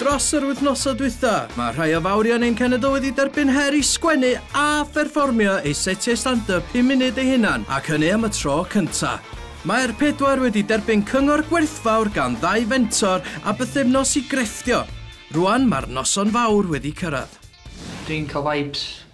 Dros yr wythnosau dwytha, mae rhai o fawrion ein cenedl wedi derbyn her i sgwennu a pherfformio eu setiau stand-yp pum munud eu hunan ac hynny am y tro cynta. Mae'r pedwar wedi derbyn cyngor gwerthfawr gan ddau fentor a bythefnos i grefftio. Rwan mae'r noson fawr wedi cyrraedd. Dwi'n cael vibes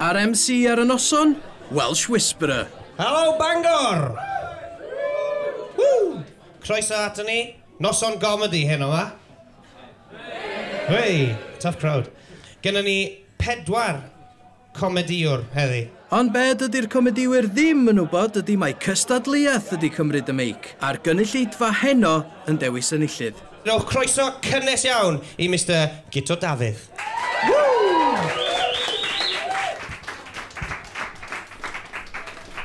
A'r MC ar y noson? Welsh Whisperer. Helo Bangor! Croeso ato ni. Noson gomedi heno ma. Hei! Tough crowd. Genna ni pedwar comediwr heddi. Ond be dydy'r comediwyr ddim yn wybod ydy mai cystadleuaeth ydy cymryd y meic, a'r gynulleidfa heno yn dewis enillydd. Rhowch croeso cynnes iawn i Mister Guto Dafydd.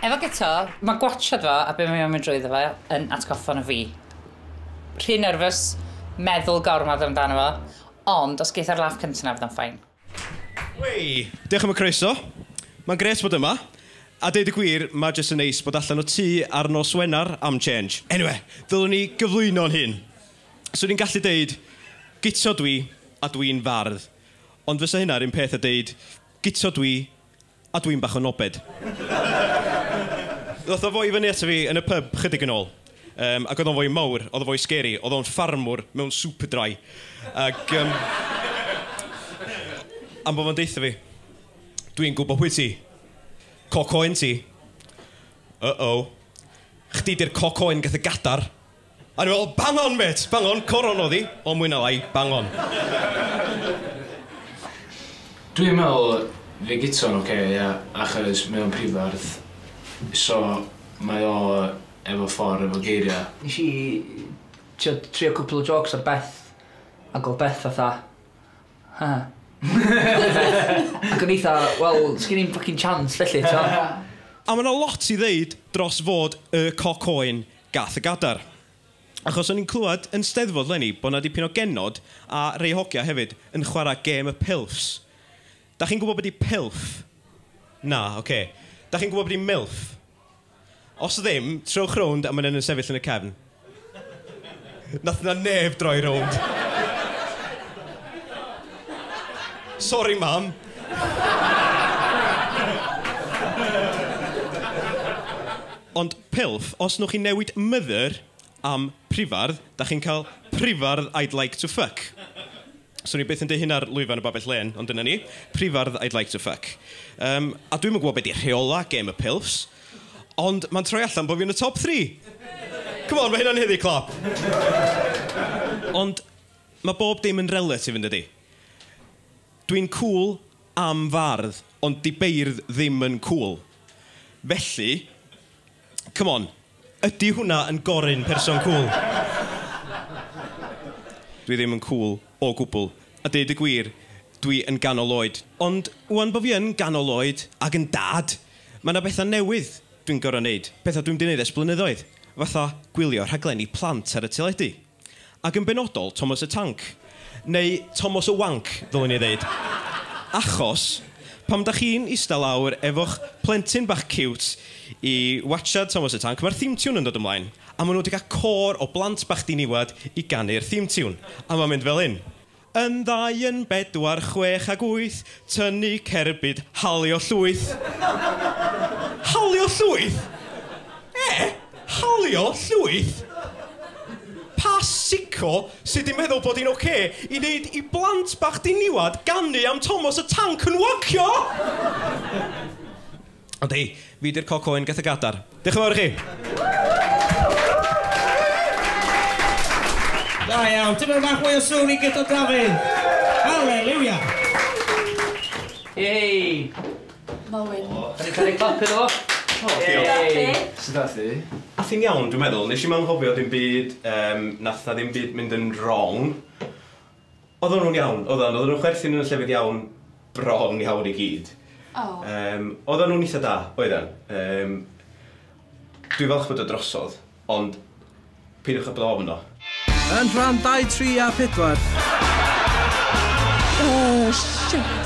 Efo Guto, mae gwatsiad fo a be mae o'n mynd drwyddo fo yn atgoffa nhw fi. Rhy nerfus, meddwl gormod amdano fo, ond os geith e'r laff cynta 'na fydd o'n fine. Wey! Diolch am y croeso. Mae'n grêt bod yma. A deud y gwir, mae jyst yn neis bod allan o tŷ ar nos Wener am change. Eniwe, ddylwn i gyflwyno'n hun. Swn i'n gallu deud, Guto dwi, a dwi'n fardd. Ond fysa hynna 'r un peth a deud, Guto dwi, A dwi'n bach o nobed. Ddoth o fo i fyny ato fi yn y pyb 'chydig yn ôl, yym, ac oedd o'n foi mawr, oedd o'n foi sgeri, oedd o'n ffarmwr mewn Superdry, ac yym, am bod fo'n deutha fi, Dwi'n gwybod pwy ti. Coc oen ti. Uh-oh. Chdi 'di'r coc oen gath y gadar. O'n i'n meddwl, bang on mêt, bang on, coron oedd hi, ond mwy na lai, bang on. Dwi'n meddwl fydd gita'n ocê ia achos mae o'n prifardd so mae o efo ffordd efo geiriau. Nes i t'wod trio cwpwl o jôcs ar Beth ag o'dd Beth fatha ha ha ac o'n i 'tha wel sgin i'm ffycin chance felly t'mo'. A ma' 'na lot i ddeud dros fod y coc oen gath y gadar. Achos o'n i'n clywed yn steddfod 'leni bo' 'na dipyn o genod, a rei hogia hefyd, yn chwara' gêm y pilfs. Dach chi'n gwbod be' 'di pilf? Na, ocê. Dach chi'n gwbod be' 'di milf? Os ddim, trowch rownd a ma' 'na un yn sefyll yn y cefn. Nath 'na neb droi rownd. Sori mam! Ond pilf, os nwch chi newid mother am prifardd, da chi'n cael prifardd I'd like to fuck. Swn i byth yn deud hyn ar lwyfan y Babell Lên, ond dyna ni, prifardd I'd like to fuck. Yym, a dwi'm yn gwybod be di rheola gem y pilfs, ond ma'n troi allan bo fi yn y top three! Come on, ma hynna'n heddi clap! Ond ma bob dim yn relatif, yn dydi? Dwi'n cŵl, am fardd ond di beirdd ddim yn cwl felly come on. Ydi hwnna yn goryn person cwl? Dwi ddim yn cwl o gwbl a deud y gwir dwi yn ganol oed ond ŵan bo fi yn ganol oed ag yn dad ma na betha newydd dwi'n goro neud, petha dwi'm di neud ers blynyddoedd fatha gwylio rhaglenni plant ar y teledu. Ac yn benodol, Tomos y Tanc. Neu Tomos y Wanc, ddylwn i ddeud. Achos, pam da chi'n ista lawr efo'ch plentyn bach ciwt i watsiad Tomos y Tanc, mae'r theme tune yn dod ymlaen, a maen nhw wedi cael côr o blant bach diniwad i ganu'r theme tune, a mae'n mynd fel hyn. Yn ddau yn bedwar chwech ag wyth Tynnu cerbyd halio llwyth Halio llwyth? Eh? Halio llwyth? Pa sicko sy 'di meddwl bod hi'n ok i neud i blant bach diniwad ganu am Tomos y Tanc yn wancio? Ond hei, fi 'di'r coc oen gath y gadar. Diolch yn fawr i chi. Da iawn, tipyn bach mwy o sŵn i Guto Dafydd. Haleliwia! Yey! Molyn. Ydy cael ei clapio iddo fo? Yey! Sut ath hi? Ath hi'n iawn dwi'n meddwl, nes i'm anghofio dim byd, nath 'na ddim byd mynd yn wrong. Oedden nhw'n iawn, oedden, oedden nhw'n chwerthin yn y llefydd iawn, bron iawn i gyd. O. Yym, oedden nhw'n eitha da, oedden. Yym, dwi'n falch bod o drosodd, ond peidiwch â bod ofn o. Yn rhan dau, tri a phedwar. Oh, shit!